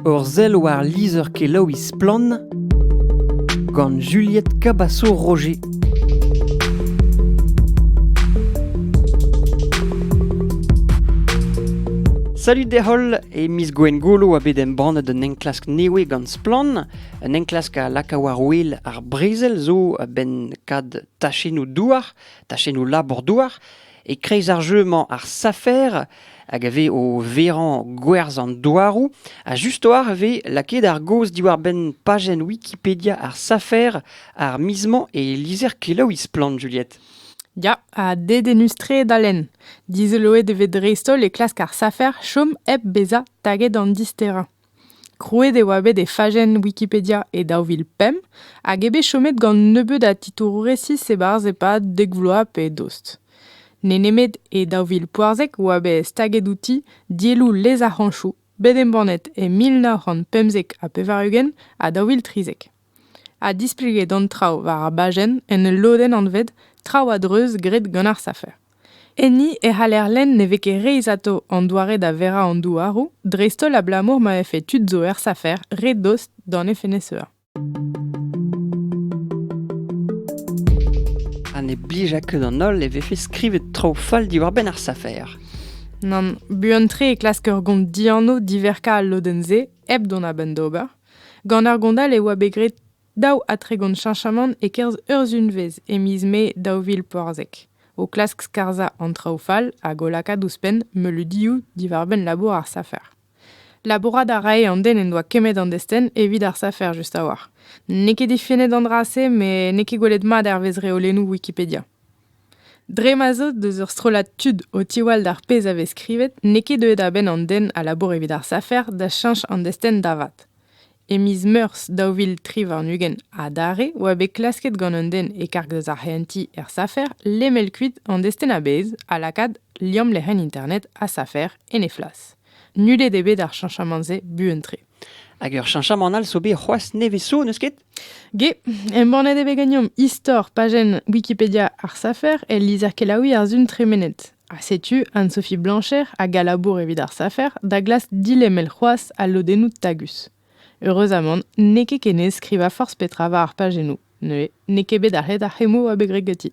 Ur sell war lizher-kelaouiñ Splann! gant Juliette Cabasso-Roger. Salut deholl, e miz Gwengolo a bet embannet un enklask newe gant Splann. Un enklask a laka war-wel ar brezel zo a-benn kad tachennoù douar, tachennoù labour-douar. E-kreiz ar jeu-mañ, ar safer, hag a vez o verañ gwerzh an douaroù, ha just-war e vez lakaet ar gaoz diwar-benn pajenn Wikipedia ar safer ar miz-mañ e lizher kelaouiñ Splann, Juliette. Ya, ha dedennus-tre da lenn. Dizoloet e vez dreist-holl e klask ar safer chom hep bezañ taget an disterañ. Krouet e oa bet e fajenn Wikipedia e daou vil pemp hag eo bet chomet gant nebeut a titouroù resis e-barzh e-pad dek vloaz pe dost. N'eo nemet e daou vil poazek e oa bet staget outi dielloù lez ar c'hañchoù bet embannet e mil nav c'hant pemzek ha pevar-ugent ha daou vil trizek. ha displeget an traoù war ar bajenn en ul lodenn anvet Traoù a-dreuz graet gant ar safer. Enni e c'haller lenn ne vez ket reizhato an doare da verañ an douaroù, dreist-holl abalamour ma vefe tud zo er safer re dost d'an FNSEA. Ha ne blija ket an holl e vefe skrivet traoù fall diwar-benn ar safer. Nann, buan-tre e klask ur gont dianv diverkañ al lodenn-se hep dont a-benn d'ober. Gant ar gondal e oa bet graet daou ha tregont cheñchamant e-kerzh ur sunvezh e miz Mae daou vil pevarzek, o klask skarzhañ an traoù fall hag o lakaat ouzhpenn meuleudioù diwar-benn labour ar safer. Labourat a rae an den en doa kemmet an destenn evit ar safer just a-walc'h. N'eo ket difennet an dra-se met n'eo ket gwelet mat hervez reolennoù Wikipedia. Dre ma 'z eus deus ur strollad tud o tiwall d'ar pezh a vez skrivet n'eo ket deuet a-benn an den a labour evit ar safer da cheñch an destenn da vat. E miz Meurzh daou vil tri warn-ugent adarre oa bet klasket gant un den e-karg deus ar c'hehentiñ er safer lemel kuit an destenn a-bezh ha lakaat liamm lec'hienn internet ha safer en he flas. Nullet eo bet ar cheñchamant-se buan-tre. Hag ur cheñchamant all zo bet c'hoazh nevez zo, n'eus ket? Ge, embannet eo bet ganeomp istor pajenn Wikipedia ar safer el lizher kelaouiñ ar Sun tremenet. Ha setu Anne-Sophie Blancher hag a labour evit ar safer da glask dilemel c'hoazh al lodennoù tagus. Heureuzamant, n'eo ket ken aes skrivañ forzh petra war ar pajennoù. Neuze n'eo ket bet arc'het ar c'hemmoù a bet graet ganti.